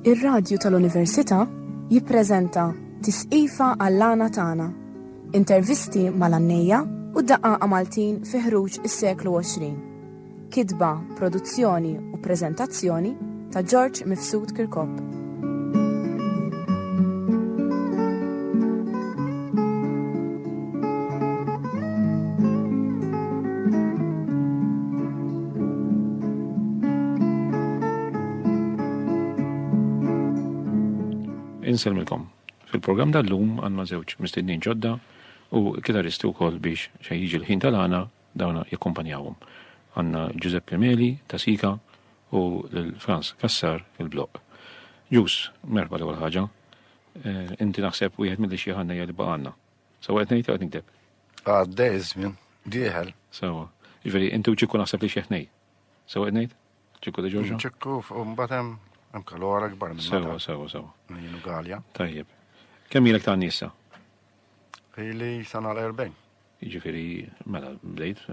Ir-radju tal-Università jippreżenta Tisqifa għall-għana tagħna. Intervisti mal-għannejja u d-daqaqa Maltin fi ħruġ is-seklu 20. Kitba, produzzjoni u preżentazzjoni ta' George Mifsud Kirkop. Inselmilkom. Fil-programm dal-lum għandna żewġ mistednin ġodda u kitaristi wkoll biex xejn jiġi l-ħin tal-għana Dawn jakkumpanjawhom għandna Ġużeppe Meli ta' Sika u lil Frans Cassar il-Bloq. Ġuż, merħba l-ewwel ħaġa. Inti naħseb wieħed mill-ixjeħ għannejja li baqa' għandna. Sewwa qed ngħid jew qed nikdeb? Għaddej iż-żmien, dieħel. Sewwa. Jiġifieri inti u Ċikku naħseb li xjeħ tnejn. Sewwa qed ngħid? Ċikku De Ġorġo? Ċikku u mbagħad hemm hemm kalora kbar minn Sewwa, sewwa, sewwa. Minn Galja. Tajjeb. Kemm ilek ta' għanni issa? Ili sa nagħlaq 40. Jiġifieri mela bdejt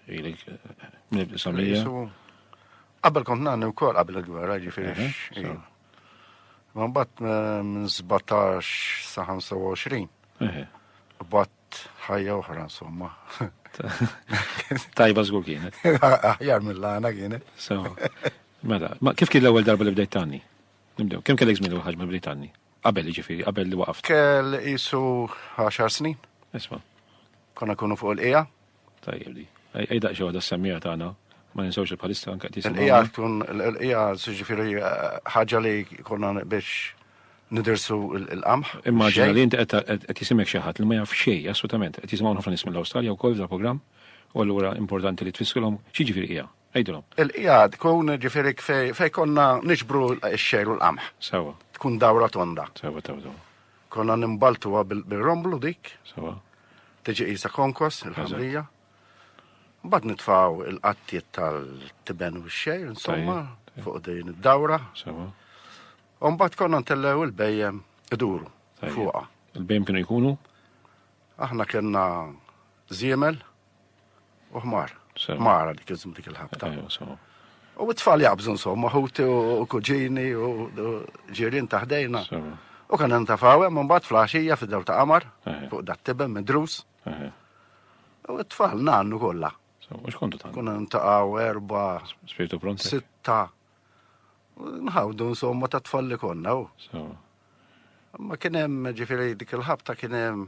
ilek minn samija. Qabel kont nagħni wkoll qabel il-gwerra, jiġifieri. Ma mbagħad minn 17 sa 25. Bat ħajja oħra insomma. Tajba żgur kienet. Aħjar mill-għana kienet. Mela, kif kien l-ewwel darba li bdejt tanni? Nibdew, kemm kellek żmien l-ewwel ħaġa bdejt tanni? Qabel jiġifieri, qabel li waqaft. Kell isu għaxar snin. Isma. Konna kunu fuq il-qija. Tajjeb di. Ej daqxie waħda s-semmija tagħna ma ninsawx il-palista anke qed jisimgħu. Hija tkun hija siġifieri ħaġa li konna biex nidirsu l-qamħ. Immaġina li inti qed jisimek xi ħadd li ma jaf xejn assolutament. Qed jisimgħu ħafna nies mill-Awstralja wkoll fil-programm u allura importanti li tfissilhom x'jiġifieri hija. Għidilhom. Il-qiegħed tkun ġifieri fejn konna niġbru x-xegħir u l-qamħ. Sewwa. Tkun dawra tonda. Sewwa taw daw. Konna nimbaltuha bir-romblu dik. Sewwa. Tiġi qisha konkos il-ħamrija. Mbagħad nitfgħu il-qattiet tal-tiben u x-xejr, insomma, fuq din id-dawra. Sewa. U mbagħad konna ntellew il-bejjem iduru fuqha. Il-bejjem kienu jkunu? Aħna kellna żiemel. U ħmar. Mara dik iżm dik il-ħabta. U t-tfal jabżu insomma, ħuti u kuġini u ġirin taħdejna. U kan ntafaw hemm mbagħad flaxija fid-daw ta' qamar fuq dat tibem midrus. U t-tfal nannu kollha. U xkontu ta' Kuna ntaqgħu erba' spiritu pront. Sitta. Nħawdu insomma ta' tfal li konna. Ma kien hemm ġifieri dik il-ħabta kien hemm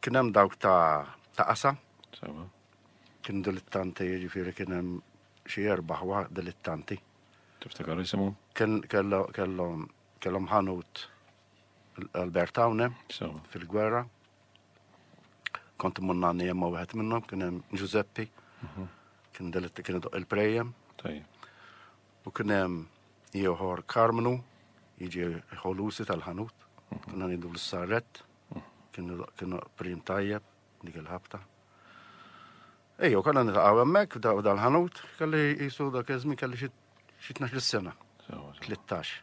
Kien hemm dawk ta' ta' qasa. Sewa. Kien dilittanti, jiġifieri kien hemm xi erbaħ wa dilittanti. Tiftakar jisimhom? Kien kellhom kellhom ħanut Albert Tawne fil-gwerra. Kont munnani jemma wieħed minnhom kien hemm Giuseppi. Mhm. Kien delitti kien il-prejem. U kien hemm Ieħor Karmnu, jiġi ħolusi tal-ħanut, konna nidu l-sarret, kienu prim tajjeb, dik il-ħabta. Ejjo, konna nitaqaw emmek dal-ħanut, kelli jisu dak iż-żmien kelli xi 12 sena. 13.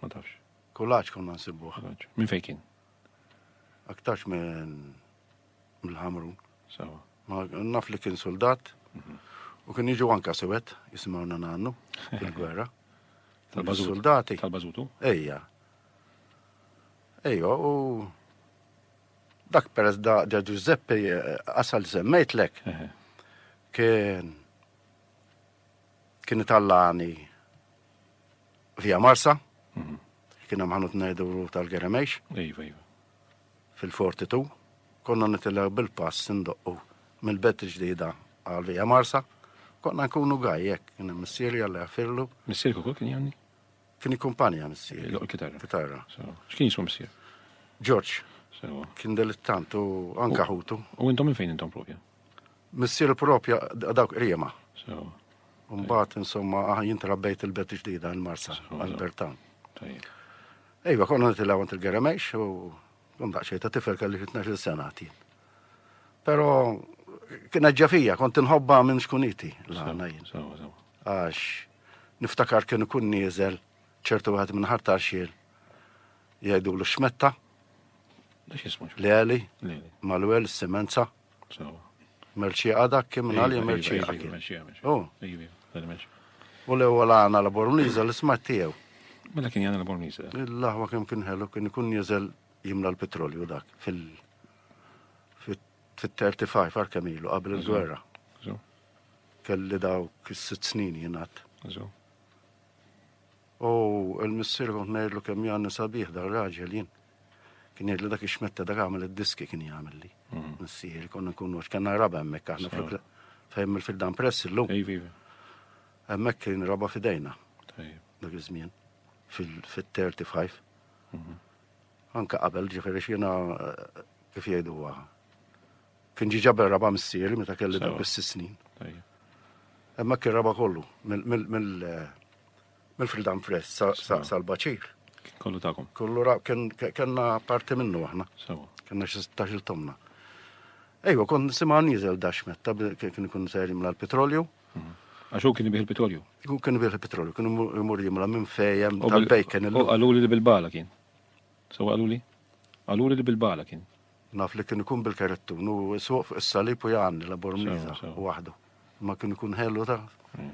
Ma tafx. Kulaċ konna nsibbu. Kulaċ. Minn fejn kien? Aktarx minn mill-ħamrun. Sawa. Ma naf li kien soldat mhm. u kien jiġu anka sewet jisimgħuna nannu fil-gwerra. Tal-bażuti. Tal-bażutu? Ejja. Ejja, u dak peress da Giuseppe eh, asal semmejtlek. Kien Kien itallani via Marsa, mhm. kien hemm ħanut ngħidulu tal-Geremejx. Iva, iva. Fil-Fortitu, konna nitilla bil-pass indoqqu mill-bett ġdida għal via Marsa, konna nkunu gajjek, kien hemm missieri għalli għafirlu. Missieri kukul kien janni? Kien kumpanja missieri. Loq kitarra. Kitarra. X'kien jismu missier? George. Kien delittantu anka ħutu. U intom minn fejn intom propja? Missier propja dawk qriema. Mbagħad insomma jien trabbejt il-bet ġdida l-Marsa għal-Bertan. Ejwa, konna nitilgħu għand il-Geremejx u kun daqsxejn ta' tifel kelli xi 12 sena għatin. Però kien ġafija, kont inħobba minn xkuniti l-għana jien. Għax niftakar kien ikun nieżel ċertu għad minn ħartar xiel jgħidu l-xmetta. Li għali, mal-wel, s-semenza. Merċi għadak kim iva, nali iva, merċi iva, għadak. Oh. U l-ewwel għana la bormliza l-isma tiegħu. Mela kien jgħana la bormliza. Il-laħwa kemm kien ħelu kien ikun jeżel jimla l-petrolju dak fil- fit-35 għar kemm ilu qabel il-gwerra. Kelli daw is-sitt snin jingħad. U l-missier kont ngħidlu kemm jgħanni sabiħ dar raġel jien. Kien jgħidlu dak ix-xmetta dak għamel id-diski kien jagħmilli. Mhm. Missieri konna nkunu għax kellna raba hemmhekk aħna fl fejn fil-dan press illum. Hemmhekk kien raba fidejna. Dak iż-żmien fil-35. Mhm. Anka qabel ġifieri x'jiena eh, kif jgħidu waħa. Kien ġi ġabel raba missieri meta kelli dak bis snin. Hemmhekk kien raba kollu mill eh, Mill-Freedom Press sal-Baċir. Kollu takom. Kollu ra, kena parti minnu aħna. Sewa. Kena xil tomna. Ejwa, kon nisima nizel dax metta, kien kun ser jimla l-petrolju. Mhm. Għax u kien bih il-petrolju? U kien bih il-petrolju, kien imur jimla minn fejem tal-bejken. U għaluli li bil-bala kien. So għaluli? Għaluli li bil-bala kien. Naf li kien ikun bil-karettu, nu suq fuq is-salib u jgħanni la bormiza waħdu. Ma kien ikun ħellu ta' mm.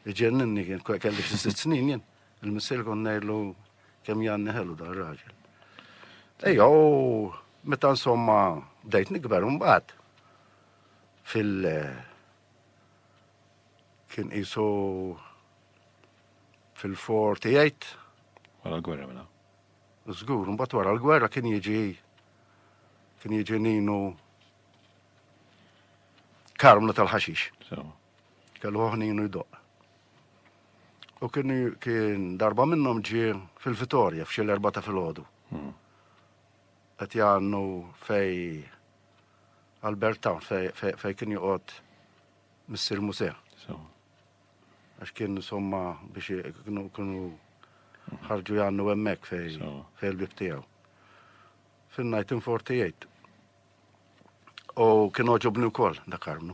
Iġenninni kien kelli xi sitt snin jien. Il-missier kon ngħidlu kemm janni ħelu dan raġel. Ejja, u meta insomma bdejt nikber mbagħad fil- kien qisu fil-48. Wara l-gwerra mela. Żgur, mbagħad wara l-gwerra kien jiġi kien jiġi ninu karmna tal-ħaxix. Kellu ħoħninu jdoq. U kien, kien darba minnhom ġie fil-Vitorja f'xi l-erba ta' filgħodu. Hmm. Qed jgħannu fej Albert Town fej, fej, fej kien joqgħod Missir Musea. Għax kien insomma biex kienu kienu hmm. ħarġu jgħannu hemmhekk fej fej l-bib tiegħu. Fin-1948. U kien oġobni wkoll dak armnu.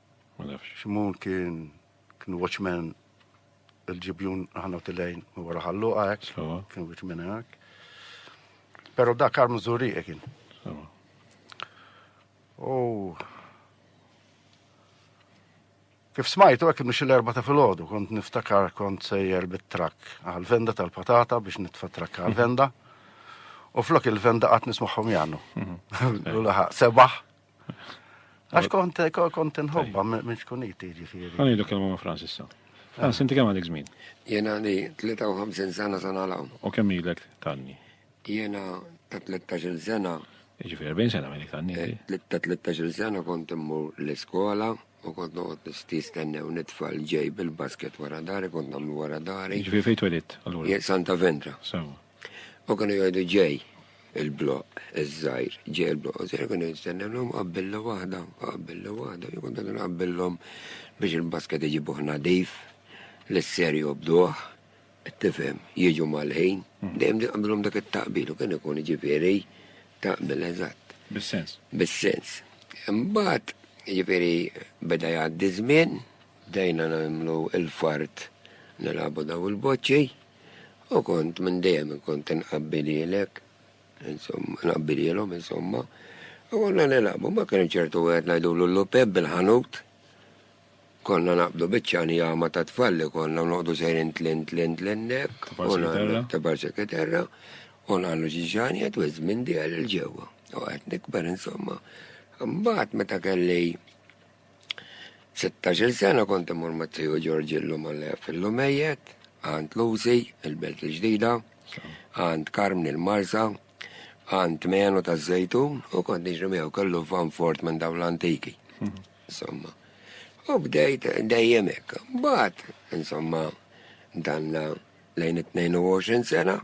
Ma nafx. Ximon kien kien watchman il-ġibjun aħna u tilejn u wara ħallu għajk. Kien watchman għajk. Pero da kar mżuri kien. U Kif smajtu għek mux l-erba ta' fil-ħodu, kont niftakar kont sejjer bit-trak għal-venda tal-patata biex nitfa trak għal-venda. U flok il-venda għat nismaħħom jannu. Mhm. U laħaq sebaħ Għax kont kont nħobba minn xkuniti ġifieri. Għani dak kelma ma' Francis sa. Francis, inti kemm għandek żmien? Jena li 53 sena sa nagħlaq. U kemm ilek tanni? Jena ta' 13 sena. Ġifieri 40 sena minn tanni. Eh, ta' 13 sena kont immur l-iskola u kont noqgħod nistis tennew nitfal ġej bil-basket wara dari, kont nagħmlu wara dari. Ġifieri fejn twelidt allura? Santa Vendra. Sewa. U kienu jgħidu ġej il-bloq iż-żgħir, ġej il-bloq iż-żgħir, kienu jistennewhom qabbilla waħda, qabbilla waħda, jkun dan qabbillhom biex il-basket iġibuh nadif, l-isser jobduh, tifhem, jiġu mal-ħin, mhm. dejjem qabbillhom dak it-taqbil u kien ikun ġifieri taqbil eżatt. Bis-sens. Bis-sens. Imbagħad ġifieri beda jgħaddi żmien, bdejna nagħmlu il-fart nilagħbu daw il-boċċi, U kont minn dejjem kont inqabbilhielek, insomma, inqabbilhielhom, insomma. U konna nilagħbu, mbagħad kien hemm ċertu wieħed ngħidulu l-lupeb bil-ħanut. Konna naqbdu biċċa njama ta' tfal li konna u noqogħdu sejrin tlin tlin tlin hekk. Ta' parsi kiterra. Ta' parsi kiterra. U nagħmlu xi ġanjet u ż-żmien diegħel il-ġewwa. U qed nikber insomma. Mbagħad meta kelli Sittax-il sena kont imur ma' tiju Ġorġillu Malef il-Lumejjet, għand Lucy, il-Belt il-Ġdida, għand Karmni il-Marsa, għand Menu taż-Żejtun u kont niġri miegħu kellu van fort minn dawn l-antiki. Insomma. U bdejt dejjem hekk. Mbagħad, insomma, danna lejn it-22 sena.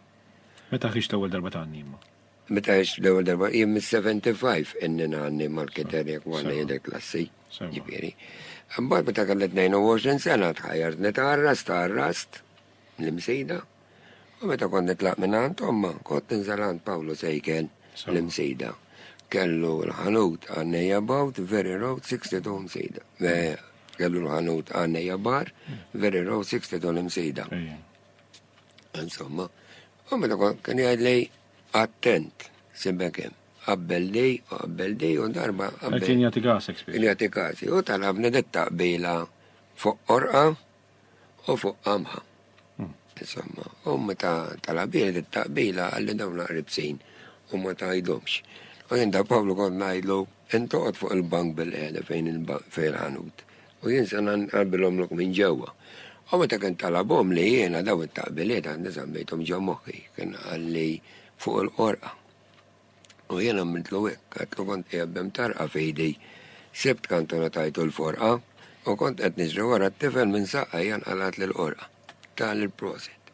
Meta ħriġt l-ewwel darba ta' għannima? Meta għext l-ewwel darba, jien mis-75 inni nanni marketer jekk ma ngħidlek klassi, ġifieri. Imbagħad meta kellet 22 sena tħajjart nitgħarras tgħarrast l-imsejda. U meta kont nitlaq minn għand omma, kont ninżel għand Pawlu Sejken l-imsejda. Kellu l-ħanut għannejja bawt, Very Road 62 imsejda. Kellu l-ħanut għannejja bar, Very Road 62 imsejda. Insomma, U meta kont kien jgħid lej attent, sibbek hemm. Qabbel di u qabbel di u darba qabbel. Kien jagħti kasek spiss. Kien jagħti kasi u talabni dit taqbila fuq qorqa u fuq qamħa. Hmm. Insomma, u meta talabili dit taqbila għalli dawn qribsin u ma tajdhomx. U jinda Pawlu kont ngħidlu intoqgħod fuq il-bank bil-qeda fejn il-ħanut. U jien se nqabbilhomlok minn ġewwa. U meta kien talabhom li jiena dawn it-taqbiliet għandi żammejthom ġo moħħi, kien qalli, Fuq il-qorqa. U jien għamiltlu hekk, għedtlu kont qiegħed b'imtarrqa f'idi, sibt kant u ngħatajtu l-forqa, u kont qed niġri wara t-tifel minn saqajja nqalgħatli l-qorqa. Tali l-prosit.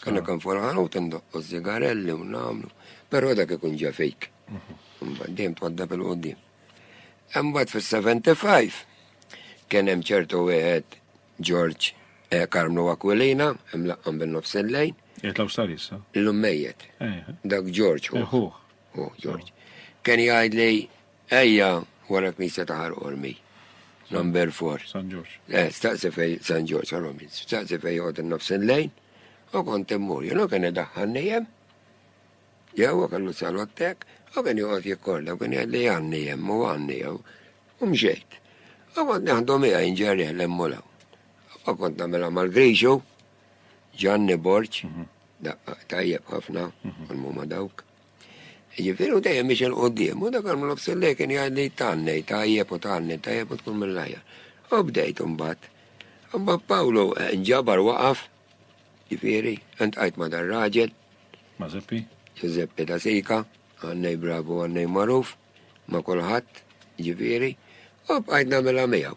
Kalla kan farħan u tindoqqu zigarelli u namlu, pero dak ikun ġa fejk. Mhm. Dejjem twadda bil-qoddim. Imbagħad fis-75 kien hemm ċertu wieħed George eh, Karmnu Aquilina, imlaqqam bin-nofs il-lejn. Jitlaw sar issa. L-ummejjet. Eh. Dak George. Uħuħ. Uħ, George. Kien jgħid li Ejja wara knisja ta' Ħar Qormi. Number 4. San Ġorġ. Eh, staqsi fej San Ġorġ Oromi, staqsi fej jgħod nofs il-lejn, u kont immur, jenu kien idaħħan nijem, jew kellu salottek, u kien jgħod jikkorda, u kien jgħad li għanni jem, u għanni jew, u mxejt. U kont neħdu mija inġerri l-emmulaw. U kont namela mal-grixu, ġanni borċ, mhm. tajjeb ħafna, mhm. u l-mumma dawk. Jiġifieri u dejjem miex il quddiem u dak għamlu b'sillej kien jgħidli tannej tajjeb u tannej tajjeb u tkun mill-ajja. U bdejt imbagħad. Imbagħad Pawlu eh, nġabar waqaf, ġifieri, intqajt ma' dar raġel. Ma' Zeppi? Zeppi ta' Sika, għannej bravu għannej maruf, ma' kulħadd, ġifieri, u bqajt nagħmilha miegħu.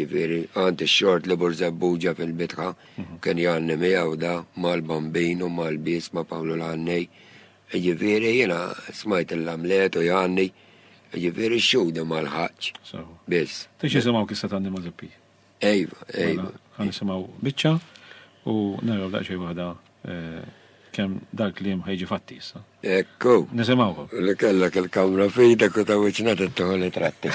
Ġifieri, għand ix-xort li Burzebbuġa fil-bitħa kien jgħanni miegħu da mal-Bambin u mal-bies ma' Pawlu l-Għannej. Ġifieri, jiena smajt il-lamlet u jgħanni. Ġifieri, x-xhudi ma lħaqtx. Sewa. Biss. Tix jisimgħu kissa tanni ma' Zeppi. Ejva, ejva. Għan nisimgħu biċċa u naraw daqsxejn waħda kemm dal-kliem ħejġi fatti issa. Ekku. Nisimgħu. Li kellek il-kamra f'idek u ta' wiċċna tittuħu li tratti.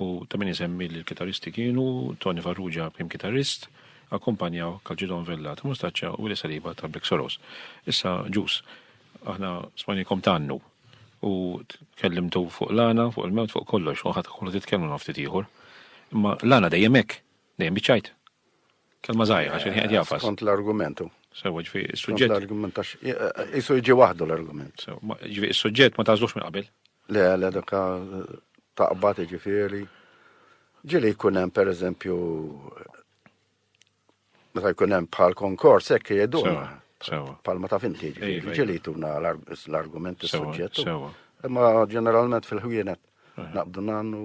U ta' min isemmi li l-kitarristi kienu Tony Farrugia, prim kitarrist, akkumpanjaw Calcedon Vella ta' Mustaccia u Willy Saliba ta' Black Sorrows. Issa, Ġus, aħna smajnikom tgħannu u tkellimtu fuq l-għana, fuq il-mewt, fuq kollox, u ħadd ħollu titkellmu ma' ftit ieħor. Imma l-għana dejjem hekk, dejjem biċ-ċajt. Kelma żgħira, xi qed jafas. Skont l-argument hu. Sewwa ġifi s-suġġett. L-argument għax isu jiġi waħdu l-argument. Ġifi s-suġġett ma tażlux minn qabel. Le, le, dak taqbad ġifieri. Ġieli jkun hemm pereżempju meta jkun hemm bħal konkors hekk jgħidulna. Bħal ma taf inti ġifieri. Ġieli jtuna l-argument is-suġġett. Imma ġeneralment fil-ħwienet naqbdu nannu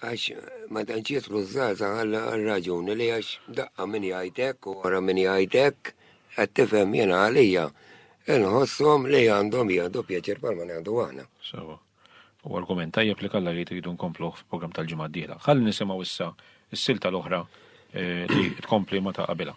Għax ma tantx jidħlu ż-żgħażagħ għar-raġuni li għax daqqa min jgħid hekk u wara min jgħid hekk, qed tifhem, jiena għalija nħosshom li għandhom jieħdu pjaċir bħalma nieħdu aħna. Sewwa. Huwa argument tajjeb li Kalla jgħid iridu nkompluh fil-programm tal-ġimgħa d-dieħla. Ħalli nisimgħu issa s-silta l-oħra li tkompli ma' ta' qabilha.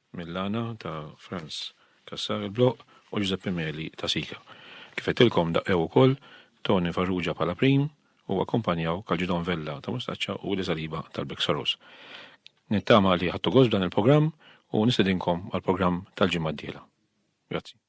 Millana ta' Frans Cassar il-Bloq u Ġużeppi Meli ta' Sika. Kif għedtilkom daqqew ukoll Toni Farrugia bħala prim u akkumpanjaw Calgidon Vella ta' Mustaccia u Willy Saliba tal-Big Sorrows. Nittama li ħadtu gost b'dan il-programm u nistedinkom għall-programm tal-ġimgħa d-dieħla. Grazzi.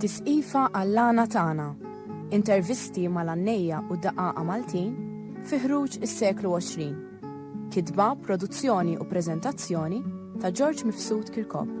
Tisqifa għall-għana tagħna, intervisti mal-għannejja u daqaqa Maltin fi ħruġ is-seklu 20. Kitba, produzzjoni u preżentazzjoni ta' George Mifsud Kirkop.